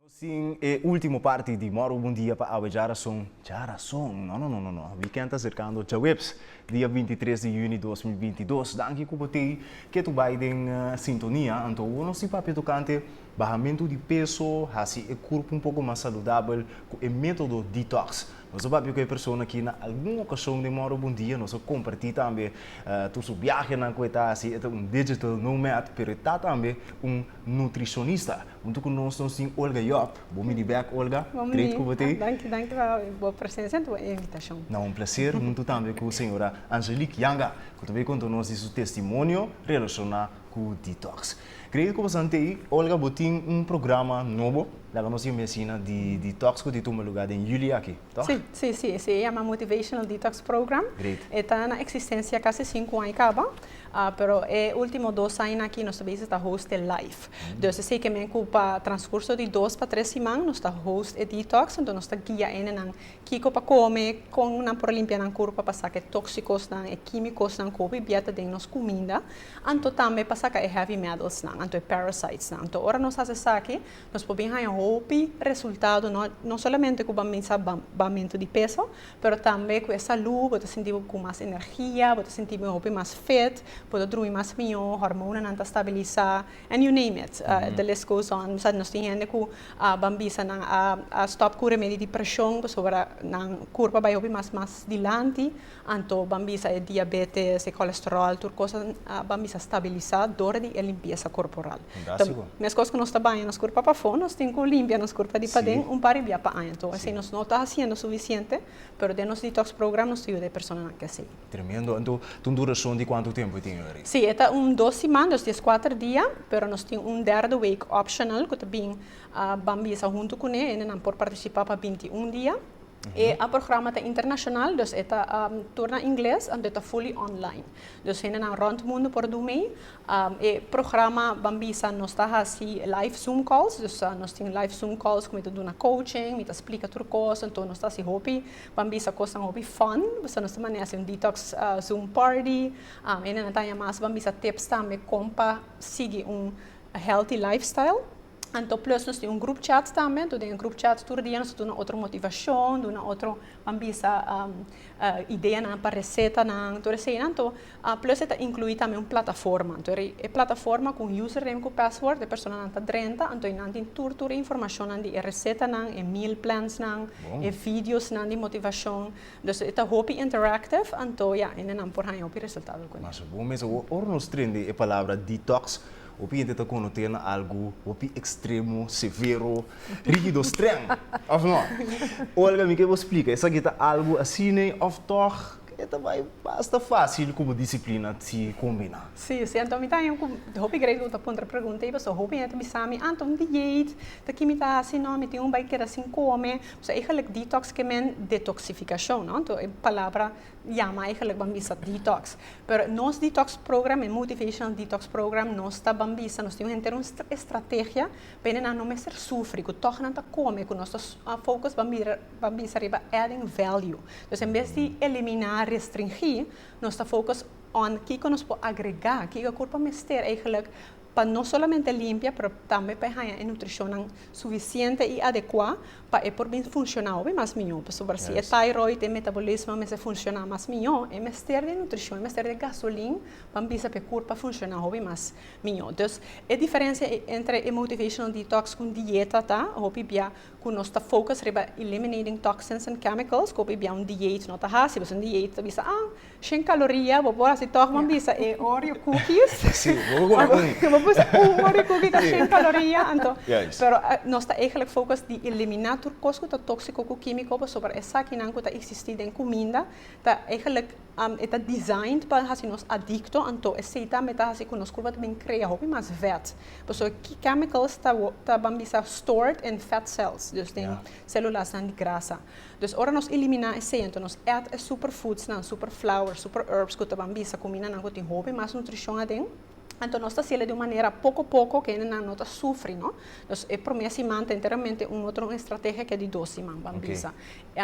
Sin e ultimo parti di Morbo Bon Dia pa awe dja rason, dja rason. No no no no no. Weekend ta acercando djaweps dia binti tres di juni dos mil binti dos. Danki cu bo tey ketu bay den sintonia. Anto, wo no si papia tocante Bahamentu di peso, hasi e kurpu un poko mas saludabel ku e metodo detox. Nos a papia ku e persona aki na algun okashon den Morro Bundia. Nos a komparti tambe tur su biahenan ku e ta hasi. E ta un digital nomad, pero e ta tambe un nutrishonista. Huntu ku nos, nos tin Olga Job. Bo bini bèk, Olga. Great ku bo ta ei. Danki, danki pa bo presensia i bo invitashon. Na un plaser, huntu tambe ku señora Angelique Yanga, ku ta bai konta nos di su testimonio relashoná ku detox. Credo cu boso antei Olga bo tin un programa nobo laga nos yamesina di detox cu di tuma lugar den juli aki, toh? Si, si, si. Esey a yama Motivational Detox Program. Great. E ta na existencia casi cinco aña caba, pero e ultimo dos aña aki nos ta bezig ta host e live. Dus esey ke men cu pa transcurso di dos pa tres siman nos ta host e detox, enton nos ta guia enenan kico pa come, con nan por a limpia nan curpa pa saca e toxicosnan, e quimicosnan cu hopi bia ta den nos cuminda. Anto tambe pa saka e heavy metalsnan, anto e parasitesnan. Anto ora nos hasi esaki, nos por bin haña hopi resultado, no no solamente ku bo bisa bamento di peso, pero tambe ku e salú, bo ta sinti bo ku mas energia, bo ta sinti bo hopi mas fit, bo ta drumi mas mihó, hormonanan ta stabilisá, and you name it, the list goes on. Bo sa nos tin hende ku ban bisa nan a stòp ku remedi di preshon, pasobra nan kurpa bai hopi mas mas dilanti. Anto ban bisa e diabetes, e colesterol, tur cosa ban bisa stabilisa door di e limpieza corporal. Fantastico. Ta mescos cu nos ta baña nos curpa pa fo, nos tin cu limpia nos curpa di paden Sí. un par di bia pa aña. Anto esey nos no ta haciendo suficiente, pero den nos detox program nos ta yuda e personanan cu esey. Tremendo. Anto ta un duracion di cuanto tempo e tin awe? Sí, e ta un dos siman, dos di es cuater dia, pero nos tin un derde week optional cu ta bin, ban bisa hunto cu ne, e nenan por participa pa binti un dia. E a programa ta internashonal, dus e ta tur na ingles anto e ta fully online. Dus hendenan rònt mundu por dun mei. E programa ban bisa nos ta hasi live zoom calls, dus nos tin live zoom calls ku mi ta duna coaching, mi ta splika tur kos, anto nos ta hasi hopi ban bisa kosnan hopi fòn. Basta nos ta mane hasi un detox zoom party. Hendenan ta haña mas ban bisa tips tambe kon pa sigui un healthy lifestyle. Anto plus nos tin un group chat tambe, anto den e group chat tur dia nos ta duna otro motivacion, duna otro, a bisa ideanan pa recetanan, tur eseinan. Anto plus e ta inclui tambe un plataforma, anto e plataforma cu un user name cu password e personanan ta drenta, anto einan tin tur tur e informacionnan di e recetanan, e meal plansnan, e videosnan di motivacion. Dus e ta hopi interactive, anto ya, hendenan por haña hopi resultado cu nan. Mas bo mester. Ora nos trindi e palabra detox, Hopi hende ta konote'l na algu hopi ekstremo, severo, rígido, strèng, òf nò? Olga, mi ke bo splika, esaki ta algu asine òf tòg e ta bai basta fásil ku bo disiplina ti kombiná? Sí, sí, anto mi ta ha'ña ku hopi grein ku ta puntra pregunta ei, pasobra hopi hende ta bisa mi, ah, anto di djeit, ta ki mi ta hasi? Nò, mi tin un bai keda sin kome, pasobra e gelijk detox ke men detoksifikashon, nò? Anto e palabra Yama eigenlijk ban bisa detox. Pero nos detox program, e motivational detox program, nos ta ban bisa, nos tin un henter un estrategia pa ene nan no mester sufri, ku tòg nan ta kome, ku nos ta focus ban mira, ban bisa riba adding value. Entonces en bes di eliminá, restringí, nos ta focus on kiko nos por agregá, kiko e kurpa mester eigenlijk, pa no solamente limpia pero tambe pa e haña e nutrishonnan sufisiente i adekuá pa e por bin funshoná hopi mas mihó. Pasobra si e thyroid, e metabolismo a mester funshoná mas mihó, e mester di e nutrishon, e mester di e gasolin pa bisa pa e kurpa a funshoná hopi mas mihó. Entonces, e diferensia entre e motivational detox ku un dieta ta hopi bia cu nos ta focus riba eliminating toxins and chemicals, cu hopi bia un dieet no ta haci, pues un dieet ta bisa ah, shen caloria, bo por haci toch, bo a bisa e oreo cookies, bo bisa un oreo cookie ta shen caloria, anto, pero nos ta eigenlijk focus di elimina tur cos cu ta toxico cu quimico, pasobra esakinan cu ta existi den cuminda ta eigenlijk. E ta designed pa hasi nos adicto, anto esei tambe ta hasi cu nos curpa ta bin crea hopi mas vet. Pasobra ki chemicals ta ban bisa stored in fat cells, dus den celulanan di grasa. Dus ora nos elimina esei, anto nos eat e superfoodsnan, superflours, superherbs cu ta ban bisa cuminanan cu tin hopi mas nutricion aden, Anto nos ta siela di un manera poko poko ke hendenan no ta sufri no. Dus e promé siman ta enteramente un otro estrategia ke di dos siman ban bisa.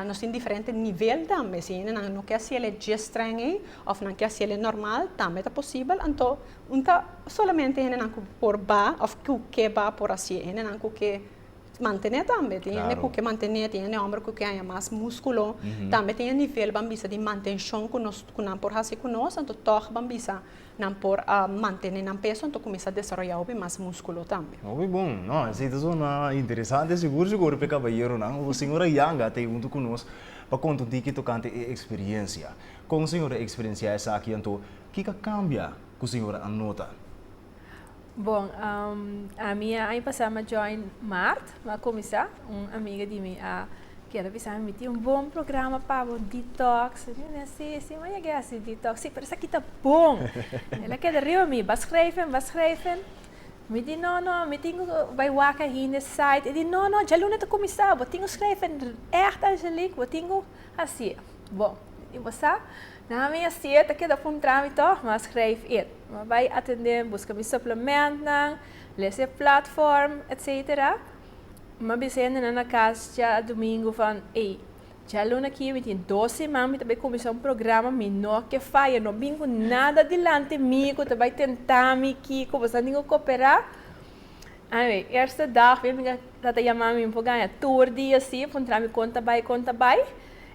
Nos tin diferente nivel tambe. Si hendenan no ke siela djes streng ei òf nan ke siela normal tambe ta posibel. Anto no ta solamente hendenan ku por ba òf ku ke ba por hasi. E hendenan ku ke mantené tambe. Tin hende ku ke mantené, tin hende hòmber ku ke haña mas múskulo. Tambe tin e nivel ban bisa di mantenshon ku nan por hasi ku nos, anto tòg ban bisa Nan por a mantene nan peso anto cuminsa desaroya hopi mas musculo tambe. Hopi bon. No, esey ta sona interesante. Sigur si hopi e caballeronan o señora Yanga ta ey hunto cu nos pa conta un tiki tocante e experiencia. Con señora a experiencia esaki anto, kica cambia cu señora a nota? Bon, ami a aña pasá mi a join maart, mi a kuminsá. Un amiga di mi a kere a bisa mi, Mi tin un bon programa pa bo, detox. Mi a bi'a, Sí, sí, maya ke hasi detox? Sí, pero esaki ta bon! El a keda riba mi, Ba skreven, ba skreven. Mi di, No, no, mi tin ku bai waka hinde site. E di, No, no, djaluna ta kuminsá, bo tin ku skreven ègt, Angelique, bo tin ku hasié. Bon, mi di, Bo sa? Na mi a siet ta keda puntra mi toch mas grijf it ma bai atende buska mi suplementnan les e platform etc ma bis hendenan na cas dja domingo van ey dja luna aki mi tin dos seman mi ta bai cuminsa un programa mi no ke faya no bin cu nada dilanti mi cu ta bai tenta mi kico bosa tin cu copera anyway eerste dag mi a bin tata yama mi mi por gana tur dia si puntra mi con ta bai con ta bai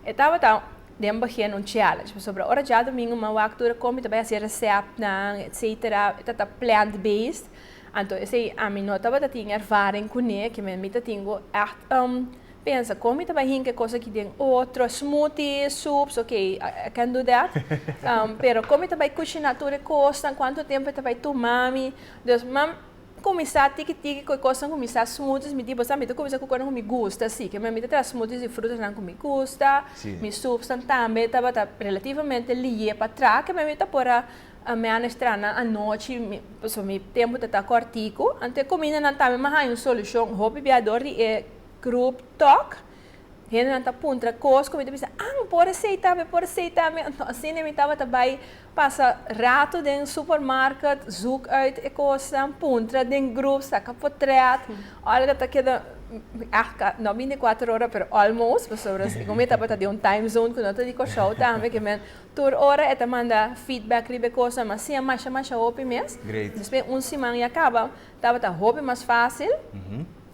e tabata. den baghia en un challenge pasobra ora djadomingo man wak tur a komi ta bai hasi resèptnan etc e tata plant based anto esei ami no tabata tin ervaring kuné kimen mi ta tin go ègt pensa kon mi ta bai hinka e kos aki den otro smoothie soups ok i can do that pero kon mi ta bai kushiná tur e kosnan kuantu tempu e ta bai tuma mi dus man Kuminsá tiki tiki ku e kosnan kuminsá smoothies mi di boso a mi ta kuminsá ku kosnan ku mi gusta si kema mi ta traha smoothies di frutanan ku mi gusta mi soupsnan tambe tabata relativamente liyé pa traha kema mi ta por a manage trahanan anochi pasobra mi tempu tata kòrtiku anto e kumindanan tambe mi a haña un solushon hopi bia dor di e group talk. Hendenan ta puntra kos ku mi ta bisa, An, por a seita mi, por a seita mi. Nto asina mi tabata bai pasa ratu den supermarket, zoek uit e kosnan, puntra den grup, saka potrèt. Olga ta keda, no bini kuater ora, pero almost, pasobra si ku mi tabata den un time zone ku no ta di Kòrsou tambe, ke men tur ora e ta manda feedback riba e kosnan, mas siña masha masha hopi mes. Despues un siman ya kaba, tabata hopi mas fásil.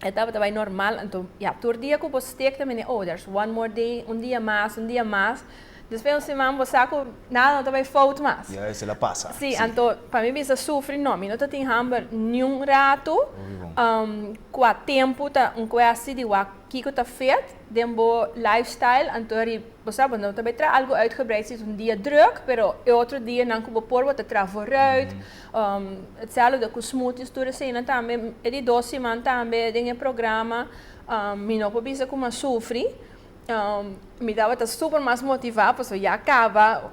E tabata bai normal, anto ya, tur dia ku bo stik ta mende ouders, one more day, un dia mas, un dia mas, despues un siman bo sa ku nada no ta bai fout mas. Ya, esei la pasa. Sí, anto pa mi bisa sufri no, mi no ta tin hamber niun ratu, kua tempu ta un kuesti di wak kiko ta fit den bo lifestyle, anto eri bo sa bo no ta bai traha algu uitgebreid si es un dia druk, pero e otro dia nan ku bo por bo ta traha voruit, Hetzelfde cu smoothies tur eseynan tambe e di dos siman tambe den e programa mi no por bisa cu mi a sufri mi tabata super mas motiva pasobra ya a caba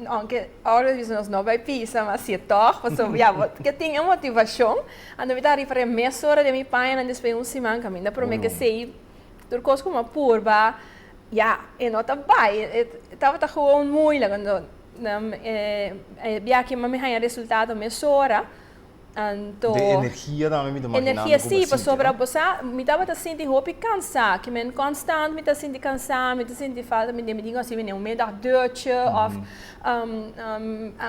aunke ora nos bisa nos no bay pisa mas si toch pasobra ya bo ke tin e motivacion anto mi ta riba riba e mesora den mi pañanan despues un siman caminda prome ke esey tur cos cu mi a purba ya e no ta bay e tabata gewoon moeilijk. Nan e bia aki mi haña resultado mesora, anto. Den energia tambe mi ta makiná mi koba sinti. Energia sí, pasobra bo sa mi tabata sinti hopi kansá, kimen konstant mi ta sinti kansá, mi ta sinti falta mi den mi tin asina un middag duchi òf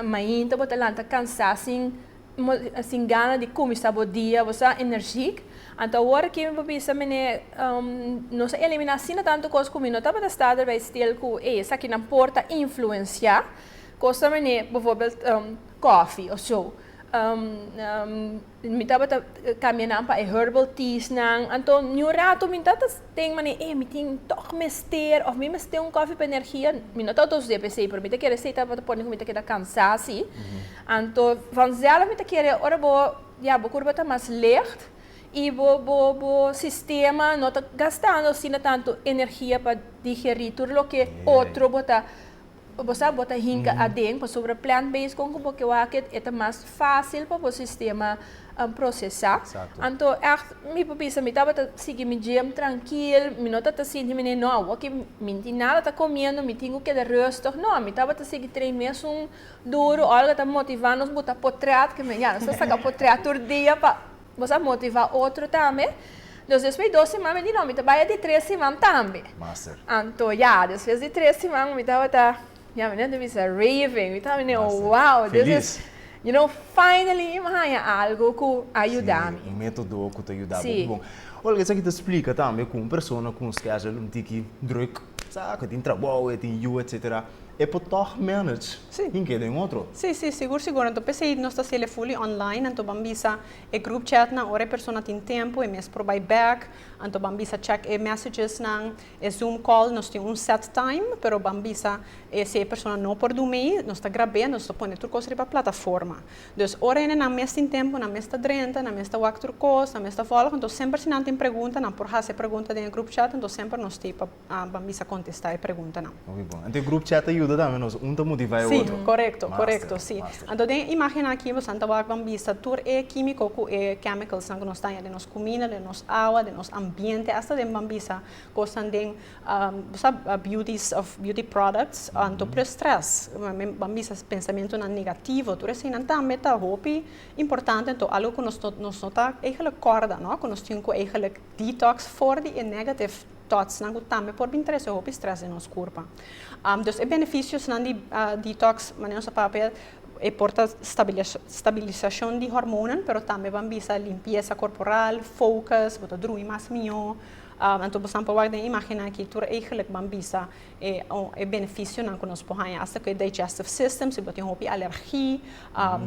mainta bo ta lanta kansá sin. Bo ta sin gana di kuminsá bo dia, bo ta energiek. Anto awor aki mi por bisa, Mené, nos a eliminá asina tantu kos ku mi no tabata sta ta bai stil ku e esakinan por ta influensiá kosa mené, befòrbèl, kòfi o so. Mi tabata kambia nan pa e herbal teas nan. Anto niun ratu mi no tabata ten manera, ei, mi tin tòg mester òf mi mester un kòfi pa energia. Mi no ta otosidé p'esei, pero mi ta kere esei tabata pone ku mi ta keda kansá si. Anto vanzelf mi ta kere ora bo ya bo kurba ta mas licht i bo bo bo sistema no ta gastando asina tantu energia pa digerí tur loke otro bo ta bo sa bo ta hinka aden pasobra plant based kon ku bo ke wak et e ta mas fásil pa bo sistema prosesá. Anto ègt mi por bisa mi tabata sigui mi gym trankil mi no ta ta sinti mi nei no awoki mi tin nada ta komiendo mi tin ku keda rustig no mi tabata sigui train mesun Duru, Olga ta motivá nos buta potrèt, ke men ya nos ta saka potrèt tur dia pa nos a motivá otro tambe. Nos despues dos siman mi di no, mi ta bai adi tres siman tambe. Master. Anto ya, despues di tres siman mi tabata, ya mi no ta bisa raving, mi ta mene wow, this is, you know, finally mi haña algu ku a yuda mi. Si, un método ku ta yuda bo. Bon, Olga, esaki ta splika tambe ku un persona ku un schedule un tiki drùk, sa, ku e tin trabou, e tin yu, etsetera. E por tòg manage hin keda en otro? Sí, sí, sigur, sigur. Anto p'esei nos ta hasiel fully online. Anto ban bisa e group chatnan ora e persona tin tempu, e mes por bai bèk. Anto ban bisa check e messagesnan. E Zoom call nos tin un set time, pero ban bisa e si e persona no por dun mei, nos ta grab'é, anto nos ta pone tur kos riba plataforma. Dus ora ene nan mes tin tempu, nan mes ta drenta, nan mes ta wak tur kos, nan mes ta vòlg, anto semper si nan tin pregunta, nan por hasi e pregunta den e group chat, anto semper nos stay pa. Ban bisa kontestá e preguntanan. Muy bon. Anto e grup chat ta yuda tambe nos, un ta motivá e otro. Sí, korekto, korekto, sí. Master. Anto den e imágennan akí boso nan ta wak ban bisa tur e kímiko ku e kèmikalsnan ku nos ta haña den nos kuminda, den nos awa, den nos ambiente, asta den ban bisa kosnan den bo sa biutis òf biuti pròdùkts, anto plus strès, ban bisa pensamentunan negativo, tur eseinan tambe ta hopi importante. Anto algu ku nos nos no ta eigelijk kòrda, no, ku nos tin ku eigelijk detox for di e negative. Totsnan ku tambe por bin trese hopi strès den nos kurpa. Dus e benefisiosnan di detoks, manera nos a papia el, e por ta stabilisashon di hormonan, pero tambe ban bisa limpiesa korporal, fokus, bo ta drumi mas mihó. Anto bosan por wak den imágennan aki tur eigenlik ban bisa e benefisionan ku nos por haña asta ku e digestive system, si bo tin hopi alergi,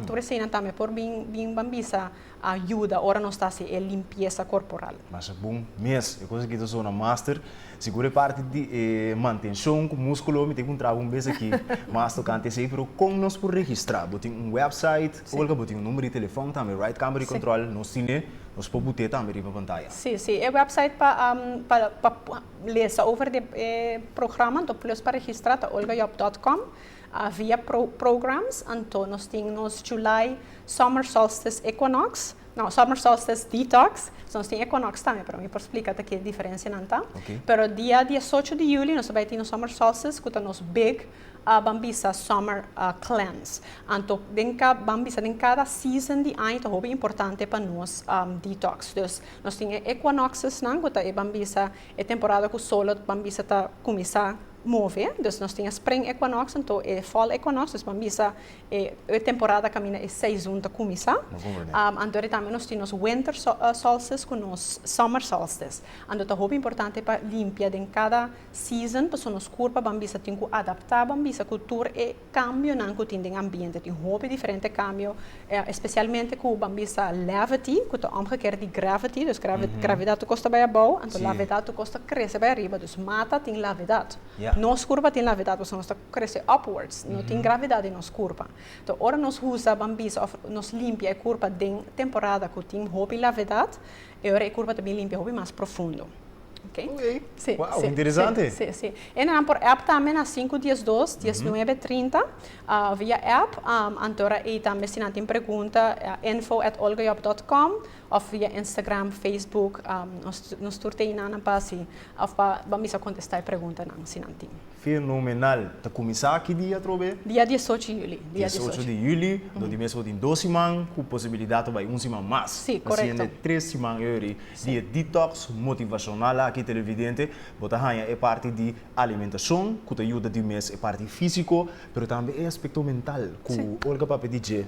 tur eseinan tambe por bin, bin ban bisa. a yuda ora nos ta hasi e limpiesa korporal. Masha bon mes! E kos aki ta sona master. Sigur e parti di e mantenshon ku muskulo mi tin ku ntraba un bes aki mas tokante esei. Pero kon nos por registrá? Bo tin un wèpsait òf bo tin un number di telefòn tambe right? Kamba di kòntròl nos tin e? Nos por put'é tambe riba pantaya? Sí, sí. E wèpsait pa pa lesa over di e programa, enton plus pa registrá ta olgajob dòt kòm. A via pro programs anto nos tin nos July Summer Solstice Equinox, no Summer Solstice Detox, so nos tin Equinox tambe pero mi por splica ta ki diferencianan ta. Ok. Pero dia diesocho di juli nos ta bai tin nos Summer Solstice cu ta nos big ah ban bisa Summer ah Cleanse. Anto den ca ban bisa den cada season di aña ta hopi importante pa nos am detox. Dus nos tin e Equinoxes nan cu ta e ban bisa e temporada cu solot ban bisa ta cuminsa move, dus nos tin e spring equinox anto e fall equinox, dus pan bisa e e temporada kaminda e seizun ta kuminsá, anto e tambe nos tin nos winter solstice ku nos summer solstice, anto ta hopi importante pa limpia den kada season pasobra nos kurpa ban bisa tin ku adaptá ban bisa ku tur e. Cambionan cu tin den ambiente. Tin hopi diferente cambio, especialmente cu ban bisa levity, cu ta omgekeerd di gravity, dus gravidad ta kosta bay abao, anto lavedad ta kosta crece bay ariba. Dus mata tin lavedad. Nos curpa tin lavedad, pasobra nos ta crece upwards. No tin gravidad den nos curpa. Entonces, ora nos usa, ban bisa, of nos limpia e curpa den temporada cu tin hopi lavedad, E ora e curva ta bin limpia hopi mas profundo. Oké. Oké. Sí. Wauw, sí, interesante. Sí, sí, sí. E nan por app tambe na sinku dies dos, dies nuebe trinta, via app. Antora ei tambe si nan tin pregunta info at olgajob dot com of via Instagram, Facebook nos tur te ei nan pa si of pa ban bisa contesta e preguntanan si nan tin. Fenomenal! Ta kuminsá ki dia atrobe? Dia diesocho di Yuli. Dia diesocho di Yuli, dor di mes bo tin dos siman ku posibilidat ta bai un siman mas. Si, korekto. Asina den tres siman ei ori di e detox motivashonal aki televidente bo ta haña e parti di alimentashon ku ta yuda tin mes e parti físiko pero tambe e aspekto mental ku Olga papia di dje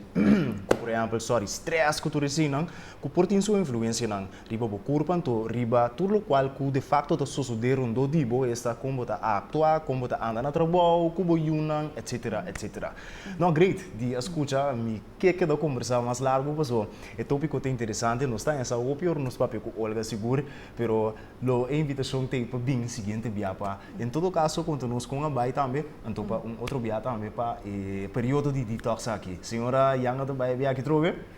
ku por ehèmpel sòri strès ku tur eseinan ku por tin su influensianan Riba bo kurpa anto riba tur lokual ku de fakto ta sosodé rondó di bo, esta kon bo ta aktua, kon bo ta anda na trabou, ku bo yunan, etsetera, etsetera. No, great, di a skucha mi ke keda kombersá mas largu pasó e tópiko ta interesante, nos ta esa hopi ora nos papia ku Olga sigur, pero lo e invitashon ta ei pa bin siguiente bia pa en todo kaso konta nos kon a bai tambe anto pa un otro bia tambe pa e periodo di detox aki. Señora Yanga ta bai bia aki trobe?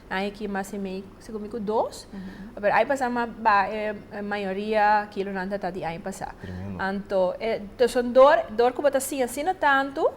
Ai ki mas i mei si ku mi ku dos. Pero ai pasa ma ba e mayoria kilonan ta ta di ai pasa. Anto e son dor, dor ku bo ta siña asina tantu,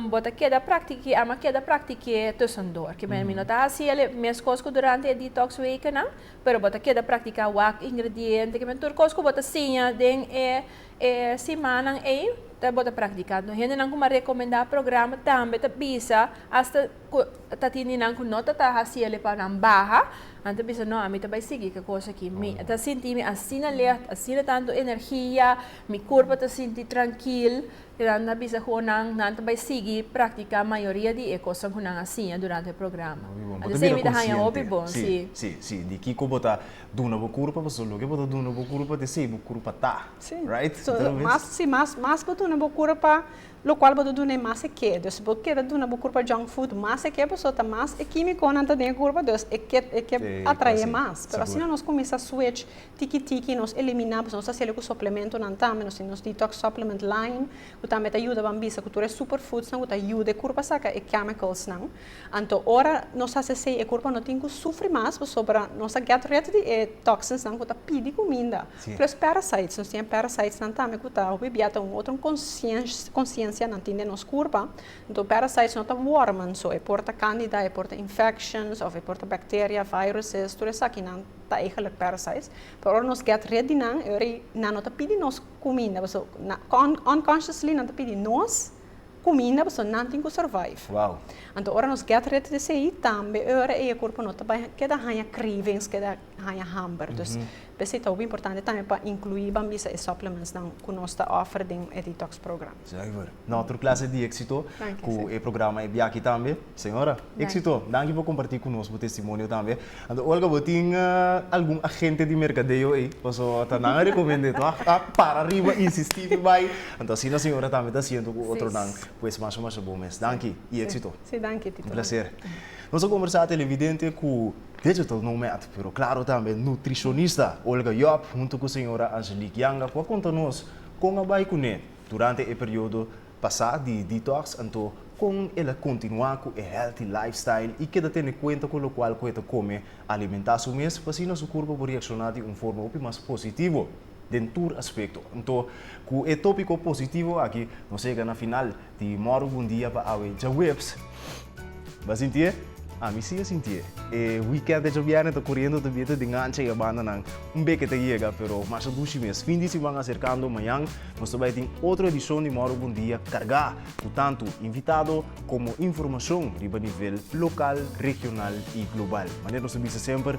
bo ta keda praktik'é, a ma keda praktik'é tusan dor. Ke men mi no ta hasi el e mes kos ku durante e detox wekennan, pero bo ta keda praktiká wak ingrediente, ke men tur kos ku bo ta siña den e e simannan ei, bo ta praktiká. Hendenan ku m'a rekomendá programa tambe ta bisa asta. Cu ta tin di nan cu no ta ta haciel e pa nan baha, nan ta bisa, no, a mi ta bay sigui ca cos aki. Mi ta sinti mi asina licht, asina tanto energia, mi curpa ta sinti trankil. Y nan ta bisa cu nan, nan ta bay sigui practica mayoria di e cosnan cu nan a siña durante e programa. Hopi bon. Bo ta Antes bira mi ta haya consciente. hopi bon, Sí, sí. sí, sí. Di kico bo ta duna bo curpa, pasobra loke bo ta duna bo curpa ta esey bo curpa ta. Sí. Right? Su, Tal vez. mas, sí, mas, mas bo duna bo curpa, Locual bo ta duna e mas e ke. Dus bo keda duna bo curpa junk food mas e ke paso ta mas e kimiconan ta den e curpa dus e ke e ke atrae mas. Pero asina nos cuminsa switch tiki tiki nos elimina paso nos ta haci lo cu suplementonan tambe nos tin nos detox supplement line cu tambe ta yuda ban bisa cu tur e super foods nan cu ta yuda e curpa saca e chemicals nan. Anto ora nos haci asey e curpa no tin cu sufri mas pasobra nos a get rid di e toxins nan cu ta pidi cuminda. Plus parasites, nos tin e parasitesnan tambe ku ta hopi bia ta un otro konsiensia nan tin den nos kurpa. Nto parasites no ta wòrmen so, e por ta kandida, e por ta infections òf e por ta bacteria, viruses, tur esakinan ta eigenlik parasites. Pero ora nos get rit di nan e ora ei nan no ta pidi nos kuminda, paso unconsciously nan ta pidi nos kuminda paso nan tin ku survive. Wow! Anto ora nos get rit di esei tambe e ora ei e kurpa no ta bai keda haña cravings, keda haña hamber. Dus p'esei ta hopi importante tambe pa inkluí ban bisa e supplementsnan ku nos ta offer den e detox program. Zuiver. Na otro klase di éksito ku e programa e biachi tambe. Señora, éksito. Danki por kompartí ku nos bo testimonio tambe. Anto Olga, bo tin algun agente di merkadeo ei? Paso ta nan a rekomend'é to a para riba, insistí pi bai. Anto asina señora tambe ta hasiendo ku otronan. Pues masha masha bon mes. Danki i éksito. Un plaser. Nos a kombersá televidente ku. Digital Nomad, pero claro tambe nutricionista Olga Job hunto cu señora Angelique Yanga cu a conta nos con a bay cune durante e periodo pasa di detox anto con el a continua cu e healthy lifestyle y keda tene cuenta cu locual cu e ta come alimenta su mes pa asina su curpa por reacciona di un forma hopi mas positivo. den tur aspekto. Anto, ku e tópiko positivo aki nos yega na final di Mòru Bundia pa awe djaweps. Bo a sintié? Ami sí a sintié. E wikènt di djabièrnè ta kuriendo ta biete den ancha i e bandanan. Un beke ta yega, pero mas a dushi mes. Fin di siman aserkando, mañan nos ta bai tin otro edishon di Mòru Bundia kargá ku tantu invitado komo informashon riba nivel lokal, regional i global. Manera nos a bisa semper,